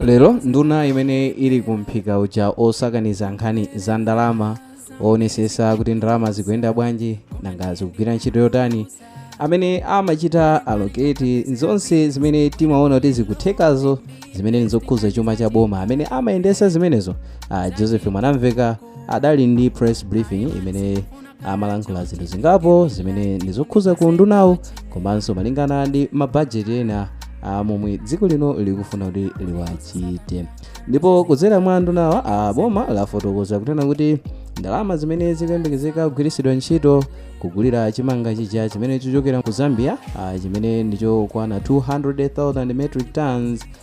lero nduna imene ili ku mphika uja osakaniza nkhani za ndalama oonesesa kuti ndalama zikuyenda bwanji nanga zikugwira ntchito yotani amene amachita allocate zonse zimene timaona kuti zikuthekazo zimene nzokhuza chuma cha boma amene amayendesa zimenezo uh, joseph mwanamveka adali ndi press briefing imene amalankhula zinthu zingapo zimene ndi zokhuza ku undunawu komanso malingana ndi mabajeti ena a momwe dziko lino likufuna kuti liwachite ndipo kudzera mwa ndunawa boma lafotokoza kunena kuti ndalama zimene zikuyembekezeka kugwiritsidwa ntchito kugulira chimanga chija chimene chichokera ku zambia ah, chimene ndichokwana 200,000 metric tons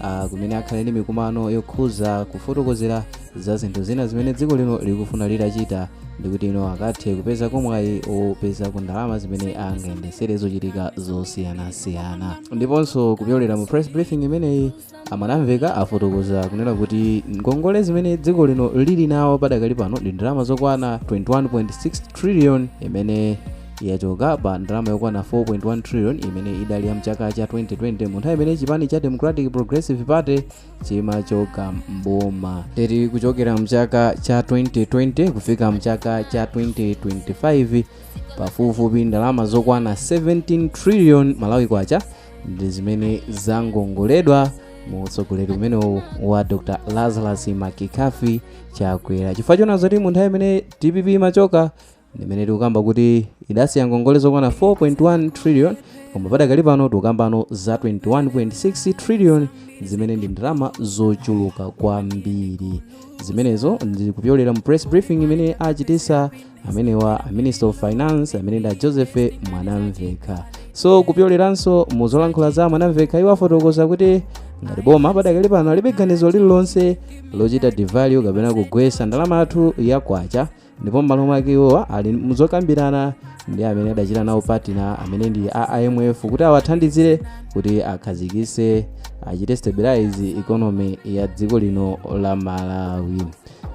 uh, kumene akhale ndi mikumano yokhuza kufotokozera za zinthu zina zimene dziko lino likufuna litachita ndikuti ino akathe kupeza ko mwayi opezako ndalama zimene angayendesere zochitika zosiyanasiyana ndiponso kupyolera mu press briefing imeneyi a mwanamveka afotokoza kunena kuti ngongole zimene dziko lino lili nawo padakali pano ndi ndalama zokwana 21.6 trillion imene yachoka pa ndalama yokwana 4.1 trillion imene idali ya mchaka cha 2020 mu nthawi imene chipani cha democratic progressive party chimachoka mboma ndiye kuchokera mchaka cha 2020 kufika mchaka cha 2025 pafupifupi ndalama zokwana 17 trillion malawi kwacha ndi zimene zangongoledwa mu utsogoleri umenewu wa dr lazarus mccarthy chakwera chifukwa choona zoti mu nthawi imene dpp imachoka ndimene tikukamba kuti idasiya ngongole zokwana 4.1 trillion koma padakali pano tikukambano za 21.6 trillion zimene ndi ndalama zochuluka kwambiri zimenezo ndikupyolera mu press briefing imene achitisa amenewa a minister of finance amene ndi a joseph mwanamveka so kupyoleranso mu zolankhula za mwanamveka iwo afotokoza kuti ngati boma padakali pano alibe ganizo lililonse lochita devalue kapena kugwetsa ndalama yathu ya kwacha ndipo m'malo mwake iwowa ali muzokambirana ndi amene adachita nawo partner amene ndi a imf kuti awathandizire kuti akhazikitse achite stabilize economy ya dziko lino la malawi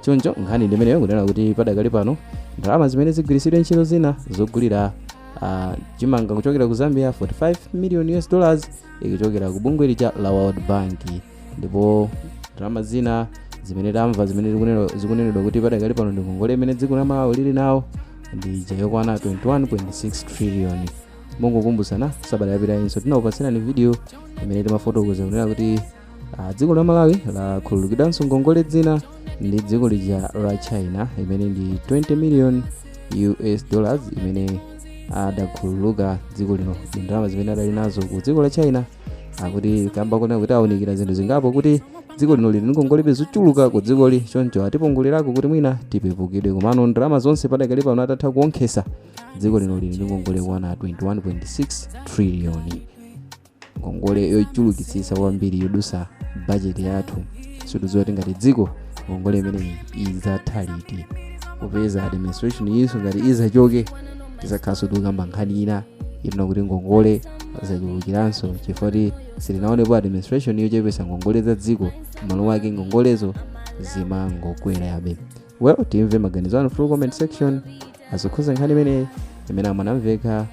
choncho nkhani ndi imeneyo kunena kuti padakali pano ndalama zimene zigwiritsidwe ntchito zina zogulira ah, chimanga kuchokera ku zambia 45 million us dollars ikuchokera ku bungwe lija la world bank ndipo ndalama zina zimene tamva zimene zikunena- zikunenedwa kuti padakali pano ndi ngongole imene dziko la malawi lili nawo ndi ija yokwana 21.6 trillion mongokumbutsana sabata yapitayinso tinakupatsirani video imene timafotokoza kunena kuti ah, dziko la malawi lakhululukidwanso ngongole zina ndi dziko lija la china imene ndi 20 million us dollars imene adakhululuka dziko lino ndi ndalama zimene adali nazo ku dziko la china akuti kamba koona kuti awunikira zinthu zingapo kuti dziko lino lili ndi ngongole zochuluka ku dzikoli choncho atipungulirako kuti mwina tipepukidwe komano ndalama zonse padakali pano atatha kuonkhesa dziko lino lili ndi ngongole yokwana 21.6 triliyoni ngongole yochulukitsitsa kwambiri yodutsa bajeti yathu sitikudziwa kuti ngati dziko ngongole imeneyi idzatha liti kupeza administration iyiso ngati idzachoke tidzakhalanso tikukamba nkhani ina ino kuti ngongole zachulukiranso chifukwa choti sitinaonepo administration yochepetsa ngongole za dziko m'malo mwake ngongolezo zimangokwerabe well timve maganizo anu through comment section zokhudza nkhani imeneyi imene a Mwanamvekha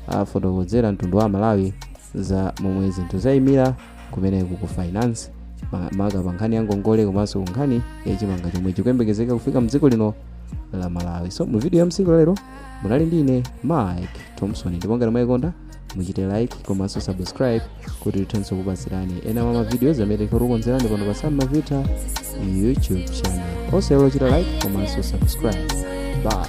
afotokozera mtundu wa malawi za momwe zinthu zayimira kumeneku ku finance ma- maka pa nkhani ya ngongole komanso ku nkhani ya chimanga chomwe chikuyembekezeka kufika mdziko lino la malawi so mu video ya tsiku la lero munali ndi ine mike thompson ndipo ngati mwayikonda muchite like komanso subscribe kuti tithenso kupatsirani ena mwa mavidiyo amene tikukonzerani pano pa sam mavita youtube channel osaiwala kuchita like komanso subscribe bye